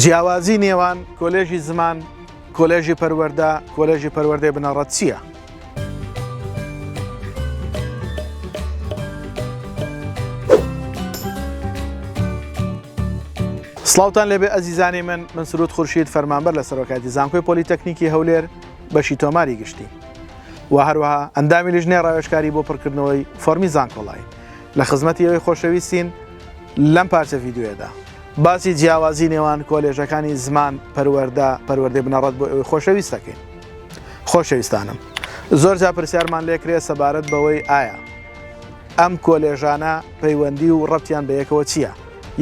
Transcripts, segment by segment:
جیاوازی نێوان کۆلێژی زمان، کۆلێژی پەروەردە، کۆلێژی پەروەردەی بنەڕەت چییە؟ سڵاوتان لێبێ ئەزیزانی من من سرود خورشید فەرمانبەر لە سەرۆکاتی زانکۆی پۆلیتەکنیکی هەولێر بەشی تۆماری گشتی و هەروەها ئەندامی لیژنێ ڕاوێشکاری بۆ پڕکردنەوەی فەرمی زانکۆڵای لە خزمەتی ئێوەی خۆشەویستین لەم پارچە ڤیدیۆیەدا. باسی جیاوازی نێوان کۆلێژەکانی زمان، پەروەردە، پەروەردەی بنەڕەت بۆ ئێوەی خۆشەویست دەکەین. خۆشەویستانم زۆر جار پرسیارمان لێکرێت سەبارەت بەوەی ئایا ئەم کۆلێژانە پەیوەندی و ڕەبتیان بە یەکەوە چییە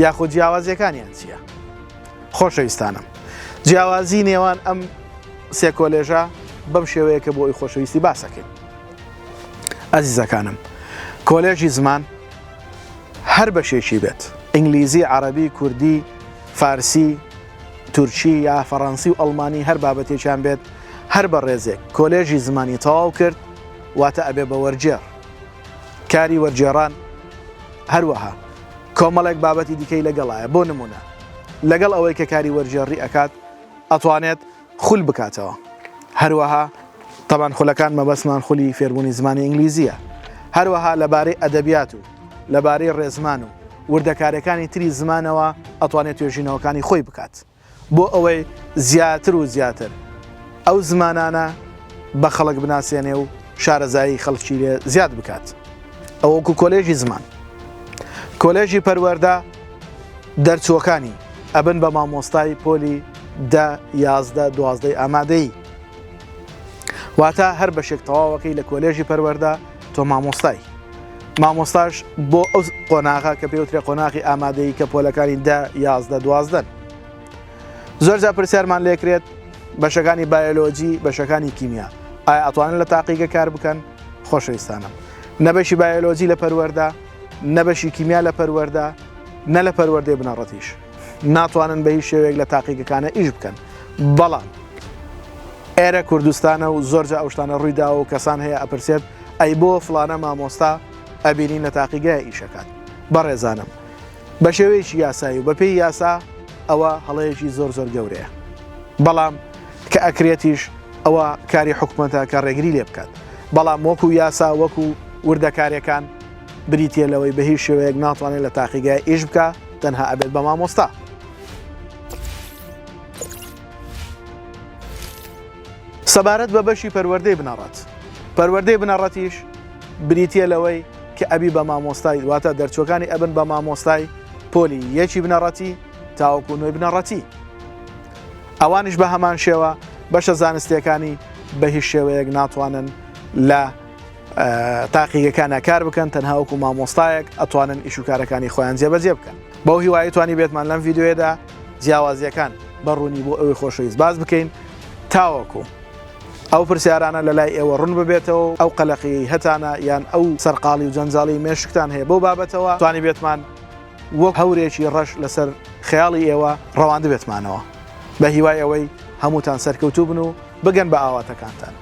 یاخود جیاوازیەکانیان چییە؟ خۆشەویستانم جیاوازی نێوان ئەم سێ کۆلێژە بەم شێوەیە کە بۆ ئەوی خۆشەویستی باسەکەین. ئەزیزەکانم کۆلێژی زمان هەر بەشێکی بێت ئینگلیزی عەڕەبی کوردی فارسی تورکی یا فەڕەنسی و ئەڵمانی هەر بابەتێکیان بێت هەر بە ڕێزێک کۆلێژی زمانی تەواو کرد واتە ئەبێ بە وەرجێڕ کاری وەرجێڕان هەروەها کۆمەڵێک بابەتی دیکەی لەگەڵایە بۆ نمونە لەگەڵ ئەوەی کە کاری وەرجێڕی ئەکات ئەتوانێت خول بکاتەوە هەروەها تەبان خولەکان مەبەستمان خولی فێربوونی زمانی ئینگلیزییە هەروەها لەبارەی ئەدەبیات و لەبارەی ڕێزمان و وردەکاریەکانی تری زمانەوە ئەتوانێت توێژینەوەکانی خۆی بکات بۆ ئەوەی زیاتر و زیاتر ئەو زمانانە بە خەڵک بناسێنێ و شارەزایی خەڵکی لێ زیاد بکات ئەوەکو کۆلێژی زمان کۆلێژی پەروەردە دەرچووەکانی ئەبن بە مامۆستای پۆلی دە یازدە دوازدەی ئامادەیی واتە هەر بەشێک تەواوەکەی لە کۆلێژی پەروەەردە تۆ مامۆستای مامۆستاش بۆ ئەو قۆناغا کە پێوترێ قۆناغی ئامادەی کە پۆلەکانی دە یازدە دوازدەن زۆرجا پرسیارمان لێکرێت بەشەکانی بایۆلۆجی بەشەکانی کیمیا ئایا ئەتوانن لە تاقیگە کار بکەن خۆشەویستانم نەبەشی بایۆلۆجی لە پەروەەردە نە بەشی کیمیا لە پەروەردە، نە لە پەروەردەی بنەڕەتیش ناتوانن بە هیچ شێوەیەک لە تاقیگەکانە ئیش بکەن. بەڵام ئێرە کوردستانە و زۆرجا ئەو شتانە ڕووی داوە و کەسان هەیە ئەپرسێت ئەی بۆ فڵانە مامۆستا ئەبینین لە تاقیگەیە ئیشەکات؟ بەڕێزانم بە شێوەیەکی یاسایی و بەپێی یاسا ئەوە هەڵەیەکی زۆر زۆر گەورەیە. بەڵام کە ئەکرێتیش ئەوە کاری حکومەتە کە ڕێگری لێ بکات. بەڵام وەکو یاسا وەکو وردەکاریەکان، بریتیە لەوەی بە هیچ شێوەیەک ناتوانێت لە تاقیگای ئیش بکە تەنها ئەبێت بە مامۆستا. سەبارەت بە بەشی پەروەردەی بنەڕەت پەروەردەی بنەڕەتیش بریتە لەوەی کە ئەبی بە مامۆستای واتە دەرچوەکانی ئەبن بە مامۆستای پۆلی یەکی بنەڕەتی تاوەکو نوێی بنەڕەتی ئەوانش بە هەمان شێوە بەشە زانستیەکانی بە هیچ شێوەیەک ناتوانن لە تاقیگەکانە کار بکەن تەنها وەکو مامۆستایەک ئەتوانن ئیشوکارەکانی خۆیان جێبەجێ بکەن بەو هیوایی توانی بێتمان لەم یددیوێدا جیاوازیەکان بەڕوونی بۆ ئەوی خۆشەویست باز بکەین تاوەکو ئەو پرسیارانە لە لای ئێوە ڕون ببێتەوە ئەو قەلەقی هەتانە یان ئەو سەرقاڵی و جەنجاڵی مێشکتان هەیە بۆ بابەتەوە توانی بێتمان وەک هەورێکی ڕەش لەسەر خەیاڵی ئێوە ڕەواند بێتمانەوە بە هیوای ئەوەی هەمووتان سەرکەوتوو بن و بگەن بە ئاواتەکانتان.